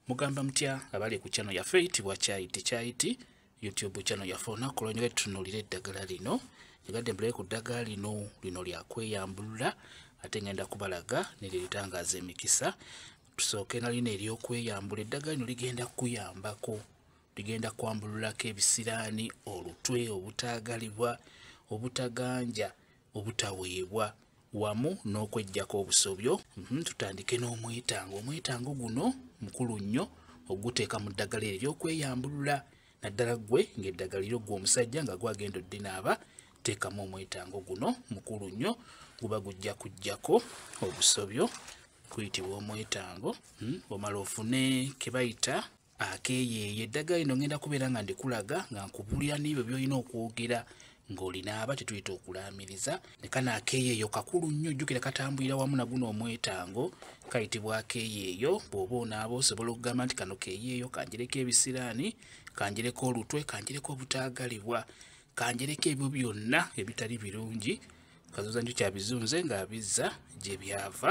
mugamba mutya abali ku channel yaffe eyitibwa kyayiti kyayiti youtube channel yaffe olunaku lwanyole tutunulira eddagala lino egadde mbulaye ku ddagala lino lino lyakweyambulula ate ngenda kubalaga neriritangaaza emikisa tusooke nalino eryokweyambula eddagala lino ligenda kukuyambako ligenda kwambululako ebisiraani olutwe obutaagalibwa obutaganja obutaweebwa wamu n'okwejjako obusobyo mhm, tutandike n'omwetango omwetango guno mukulu nnyo oguteeka mu ddagala eryo okweyambulula naddala gwe ng'eddagala eryo gwe omusajja nga gwagenda oddinaaba teekamu omwetango guno mukulu nnyo guba gujja kujjako obusobyo kuyitibwa omwetango mhm, omala ofune kebayita akeeyeeya eddagala lino ngenda kubeera nga ndikulaga nga nkubulira n'ebyo by'olina okwogera ng'olinaaba kyetuyita okulaamiriza ne kano akeeyeeyo kakulu nnyo jjukira katambulira wamu na guno omwetango kayitibwa akeeyeeyo bw'oba onaaba osobola okugamba nti kano keeyeeyo kanjereko ebisiraani kanjereko olutwe kanjereko obutaagalibwa kanjereko ebyo byonna ebitali birungi kazoza njo kyabizunze ng'abizza gye byava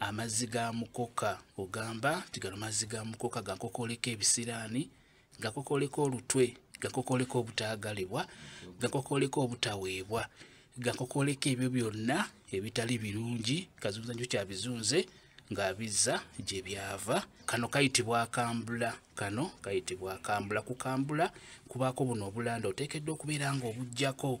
amazzi ga mukoka ogamba nti gano mazzi ga mukoka gakokoleka ebisiraani gakokoleka olutwe gakokoleka obutaagalibwa gakokoleka obutaweebwa gakokoleka ebyo byonna ebitali birungi kazunza njo kyabizunze ng'abizza gye byava kano kayitibwa akambula kano kayitibwa akambula kukambula kubaako buno obulanda oteekeddwa okubeera ng'obugyako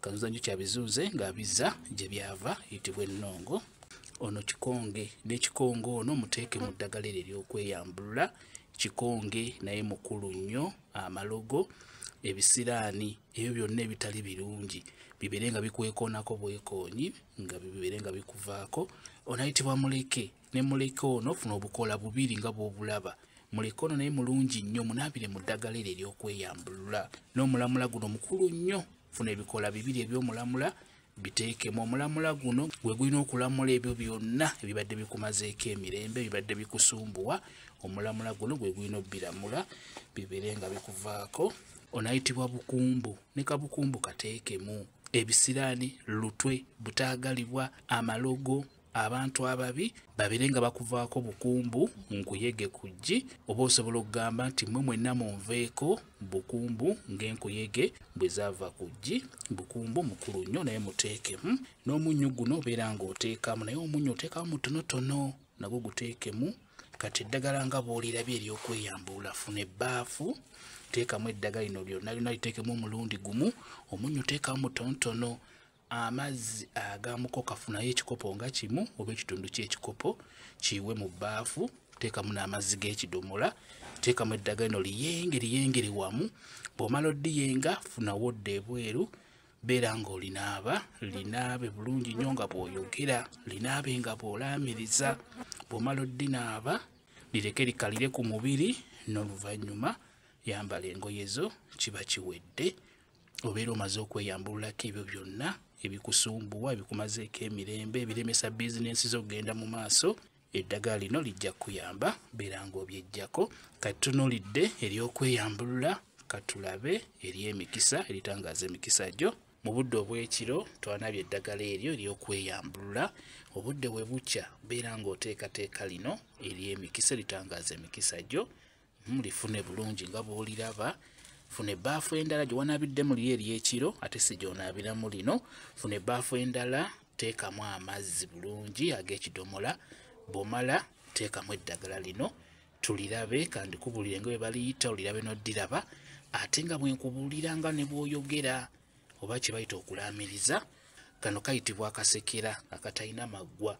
kazuza njuki abizuuze ng'abizza gye byava yitibwa ennongo ono kikonge n'ekikonge ono muteeke mu ddagala eryo ery'okweyambulula kikonge naye mukulu nnyo amalogo ebisiraani ebyo byonna ebitali birungi bibeere nga bikwekoonako bwekoonyi nga bibeere nga bikuvaako onayitibwa muleke ne muleke ono ofuna obukoola bubiri nga bw'obulaba muleke ono naye mulungi nnyo munaabire mu ddagala eryo ery'okweyambulula n'omulamula guno mukulu nnyo funa ebikoola bibiri eby'omulamula biteekemu omulamula guno gwe gulina okulamula ebyo byonna ebibadde bikumazeeko emirembe ebibadde bikusumbuwa omulamula guno gwe gulina obbiramula bibeere nga bikuvaako onayitibwa bukumbu ne kabukumbu kateekemu ebisiraani lutwe butaagalibwa amalogo abantu ababi babere nga bakuvaako bukumbu nkuyege ku ggi oba osobola okugamba nti mmwe mwenna munveeko bukumbu ng'enkuyege bwe zaava ku ggi bukumbu mukulu nnyo naye muteekemu n'omunnyu guno obeera ng'oteekamu naye omunnyu oteekamu mutonotono nagwo guteekemu kati eddagala nga bw'olirabye ery'okweyambula funa ebbaafu teekamu eddagala lino lyonna lyonna liteekemu omulundi gumu omunnyu teekamu mutonotono amazzi agamukoka funayo ekikopo nga kimu oba ekitundu kyekikopo kiwe mu bbaafu teekamu n'amazzi g'ekidomola teekamu eddaga lino liyenge liyengere wamu bw'omala odiyenga funawo odda ebweru beera ng'olinaaba linaabe bulungi nnyo nga bw'oyogera linaabe nga bw'olaamiriza bw'omala oddinaaba lireke likalire ku mubiri n'oluvannyuma yambala engoye zo kiba kiwedde obeera omaze okweyambululako ebyo byonna ebikusumbuwa ebikumazeeko emirembe ebiremesa bizinensi zo okugenda mu maaso eddagala lino lijja kukuyamba beera ng'obyejjako kati tunulidde ery'okweyambulula katulabe ery'emikisa eritangaaza emikisa gyo mu budde obw'ekiro twanabye eddagala eryo ery'okweyambulula obudde we bukya beera ng'oteekateeka lino ery'emikisa eritangaaza emikisa gyo mulifune hmm, bulungi nga bwoliraba funa ebbaafu endala gye wanaabidde muli eri ekiro ate si gyonaabiramu lino funa ebbaafu endala teekamu amazzi bulungi ag'ekidomola bwomala teekamu eddagala lino tulirabe kandi kubulire nga bwe baliyita olirabe n'oddiraba ate nga bwe nkubuulira nga ne bw'oyogera oba kye bayita okulaamiriza kano kayitibwa akasekera akatalina maggwa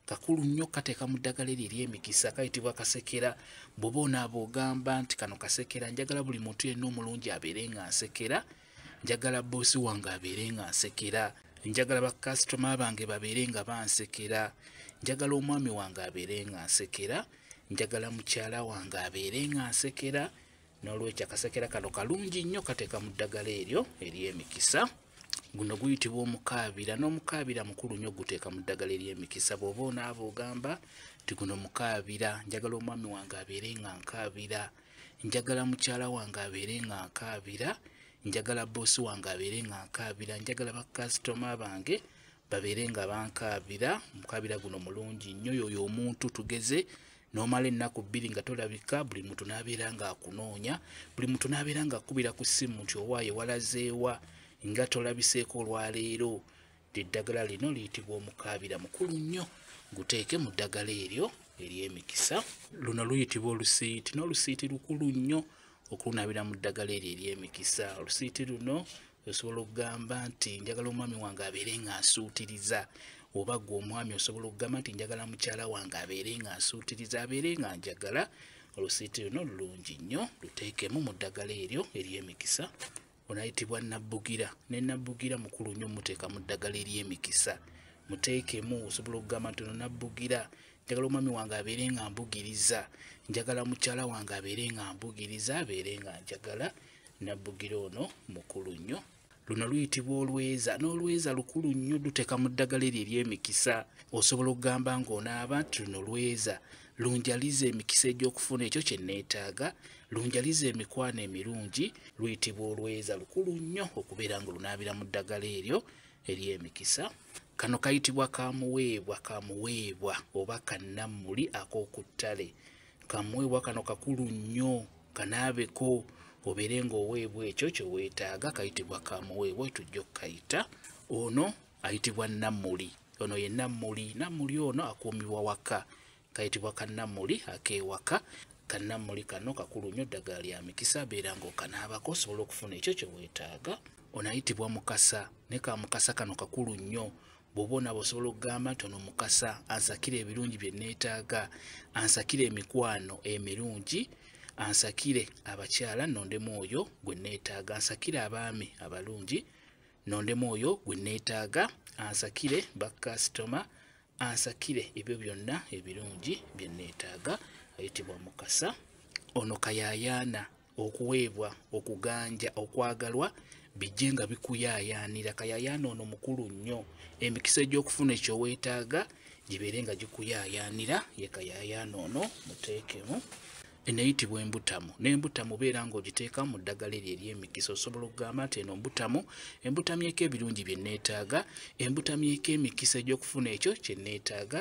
kakulu nnyo kateeka mu ddagala eryo ery'emikisa kayitibwa kasekera bwoba onaaba ogamba nti kano kasekera njagala buli muntu yenna omulungi abeere nga nsekera njagala boosi wange abeere nga nsekera njagala bakasitoma bange babeere nga bansekera njagala omwami wange abeere nga nsekera njagala mukyala wange abeere nga nsekera n'olwekyo akasekera kano kalungi nnyo kateeka mu ddagala eryo ery'emikisa e guno guyitibwa omukaabira n'omukaabira mukulu nnyo guteeka mu ddagala ery'emikisa bw'oba onaaba ogamba nti guno mukaabira njagala omwami wange abeere nga nkaabira njagala mukyala wange abeere nga nkaabira njagala boosi wange abeere nga nkaabira njagala bakasitoma bange babeere nga bankaabira omukaabira guno mulungi nnyo yoyo omuntu tugeze nomala ennaku bbiri nga tolabika buli muntu n'abeera ng'akunoonya buli muntu n'abeera ng'akubira ku ssimu nti owaaye walazeewa nga tolabiseeko olwaleero eddagala lino liyitibwa omukaabira mukulu nnyo guteeke mu ddagala eryo ery'emikisa luno luyitibwa olusiiti n'olusiiti lukulu nnyo okulunabira mu ddagala eryo ery'emikisa olusiiti luno osobola okugamba nti njagala omwami wange abeere nga nsuutiriza oba gwe omwami osobola okugamba nti njagala mukyala wange abeere nga nsuutiriza abeere nga njagala olusiiti luno lulungi nnyo luteekemu mu ddagala eryo ery'emikisa onayitibwa nabbugira ne nabbugira mukulu nnyo muteeka mu ddagala ery'emikisa muteekemu osobola okugamba nti ono nabbugira njagala omwami wange abeere nga mbugiriza njagala mukyala wange abeere nga mbugiriza abeere nga njagala nabbugira ono mukulu nnyo luno luyitibwa olweza n'olweza lukulu nnyo luteeka mu ddagala eryo ery'emikisa osobola okugamba ng'onaaba nti luno lweza lunjaliza emikisa egy'okufuna ekyo kye nneetaaga lunjaliza emikwano emirungi luyitibwa olweza lukulu nnyo okubeera nga olunaabira mu ddagala eryo ery'emikisa kano kayitibwa kamuweebwa kamuweebwa oba kannammuli ak'oku ttale kamuweebwa kano kakulu nnyo kanaabeko obeere ng'oweebwa ekyo kye weetaaga kayitibwa kamuweebwa tujja okukayita ono ayitibwa nammuli ono ye nammuli nammuli ono akuumibwa waka kayitibwa kannammuli akeewaka kannammuli kano kakulu nnyo ddagala lya mikisa beera ng'okanaabako osobola okufuna ekyo kye weetaaga ono ayitibwa mukasa ne ka mukasa kano kakulu nnyo bw'oba onaaba osobola okugamba nti ono mukasa ansakire ebirungi bye nneetaaga ansakire emikwano emirungi ansakire abakyala nondemu oyo gwe nneetaaga ansakire abaami abalungi nondemu oyo gwe nneetaaga ansakire bakasitoma ansakire ebyo byonna ebirungi bye nneetaaga ayitibwa mukasa ono kayayaana okuweebwa okuganja okwagalwa bijje nga bikuyaayaanira kayaayaana ono mukulu nnyo emikisa egy'okufuna ekyo weetaaga gibeere nga gikuyaayaanira ye kayaayaana ono muteekemu eneyitibwa embutamu n'embutamu beera ng'ogiteeka mu ddagala eryo ery'emikisa osobola okugamba nti eno mbutamu embutamyeko ebirungi bye neetaaga embutamyeko emikisa egy'okufuna ekyo kye neetaaga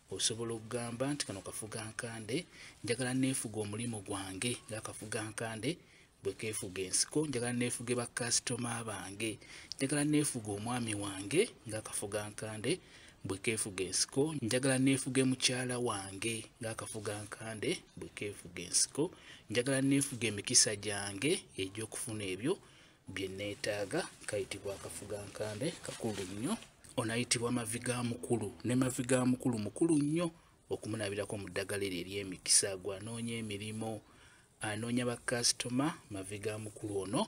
osobola okugamba nti kano kafuga nkande njagala neefuga omulimu gwange nga kafuga nkande bwe keefuga ensiko njagala neefuge bakasitoma bange njagala neefuga omwami wange nga kafuga nkande bwe keefuga ensiko njagala neefuge mukyala wange ng'akafuga nkande bwe keefuga ensiko njagala neefuga emikisa gyange egy'okufuna ebyo bye nneetaaga kayitibwa akafugankambe kakulu nnyo onayitibwa mavi ga mukulu ne mavi ga mukulu mukulu nnyo okumunabirako mu ddagala eryo ery'emikisa gwanoonya emirimu anoonya bakasitoma mavi ga mukulu ono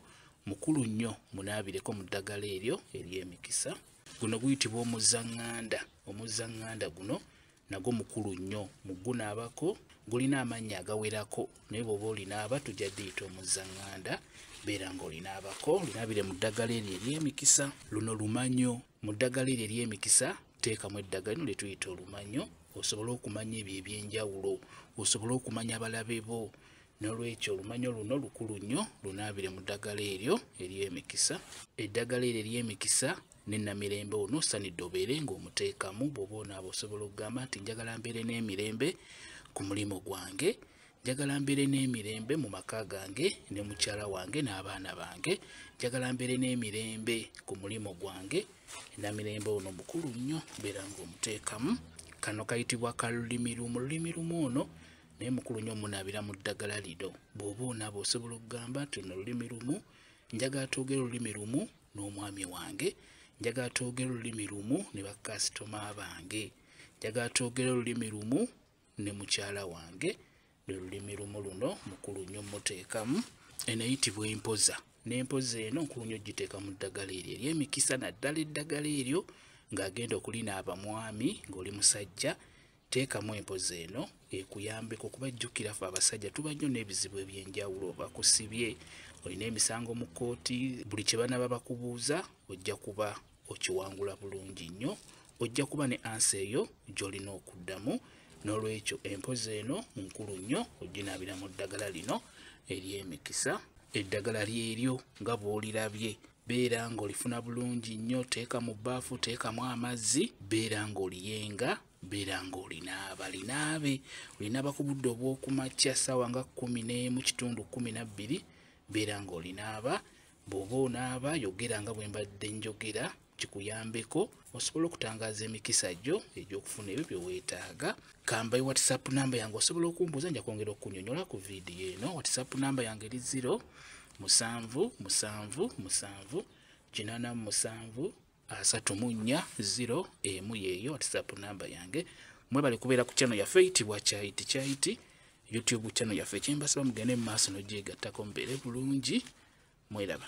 mukulu nnyo munaabireko mu ddagala eryo ery'emikisa guno guyitibwa omuzaŋŋanda omuzaŋŋanda guno nagwo mukulu nnyo mu gunaabako gulina amannya agawerako naye bwoba olinaaba tujja diyita omuzzanganda beera nga olinaabako linaabire mu ddagala eryo ery'emikisa luno lumanyo mu ddagala eryo ery'emikisa teekamu eddagala lino lyetuyita olumanyo osobole okumanya ebyo ebyenjawulo osobole okumanya abalabe bo nolwekyo olumanyo luno lukulu nnyo lunaabire mu ddagala eryo ery'emikisa eddagala eryo ery'emikisa ne namirembe ono osanidde obeere ng'omuteekamu bw'oba onaaba osobola okugamba nti njagala mbeere n'emirembe ku mulimu gwange njagala mbeere n'emirembe mu maka gange ne mukyala wange n'abaana bange njagala mbeere n'emirembe ku mulimu gwange namirembe ono mukulu nnyo mbeera ng'omuteekamu kano kayitibwa kalulimi lumu lulimi lumu ono naye mukulu nnyo omunaabira mu ddagala lido bw'oba onaaba osobola okugamba nti no lulimi lumu njagala twogere olulimi lumu n'omwami wange njagala twogere olulimi lumu ne bakasitoma bange njagala twogere olulimi lumu ne mukyala wange lwe lulimi lumu luno mukulu nnyo muteekamu eneyitibwa empoza n'empoza eno nkulu nnyo giteeka mu ddagala eryo eryemikisa naddala eddagala eryo ng'agenda okulinaaba mwami ng'oli musajja teekamu empozi eno ekuyambeko kuba jjukira fe abasajja tuba nnyo n'ebizibu eby'enjawulo bakusibye olina emisango mu kkooti buli kye banaba bakubuuza ojja kuba okiwangula bulungi nnyo ojja kuba ne ansa eyo gy'olina okuddamu n'olwekyo empozi eno nkulu nnyo ojjinaabira mu ddagala lino ery'emikisa eddagala lyeryo nga bw'olirabye beera ng'olifuna bulungi nnyo teeka mu bbaafu teekamu amazzi beera ng'oliyenga beera ng'olinaaba linaabe olinaaba ku budde obw'okumakya ssaawa nga kkumi n'emu kitundu kkumi na bbiri beera ng'olinaaba bw'oba onaaba yogera nga bwe mbadde njogera kikuyambeko osobola okutangaza emikisa gyo egyokufuna ebyo byeweetaaga kambayi whatsapp namba yange osobola okumbuuza nja kwongera okunyonyola ku vidiyo eno whatsapp namba yange eri ziro musanvu musanvu musanvu kinana musanvu asatu mu nnya ziro emu yeeyo whatsapp namba yange mwebale kubeera ku kyano yaffe eyitibwa kyayiti kyayiti youtube kyano yaffe kyembasaba mugende mu maaso nogyegattako mubeere bulungi mweraba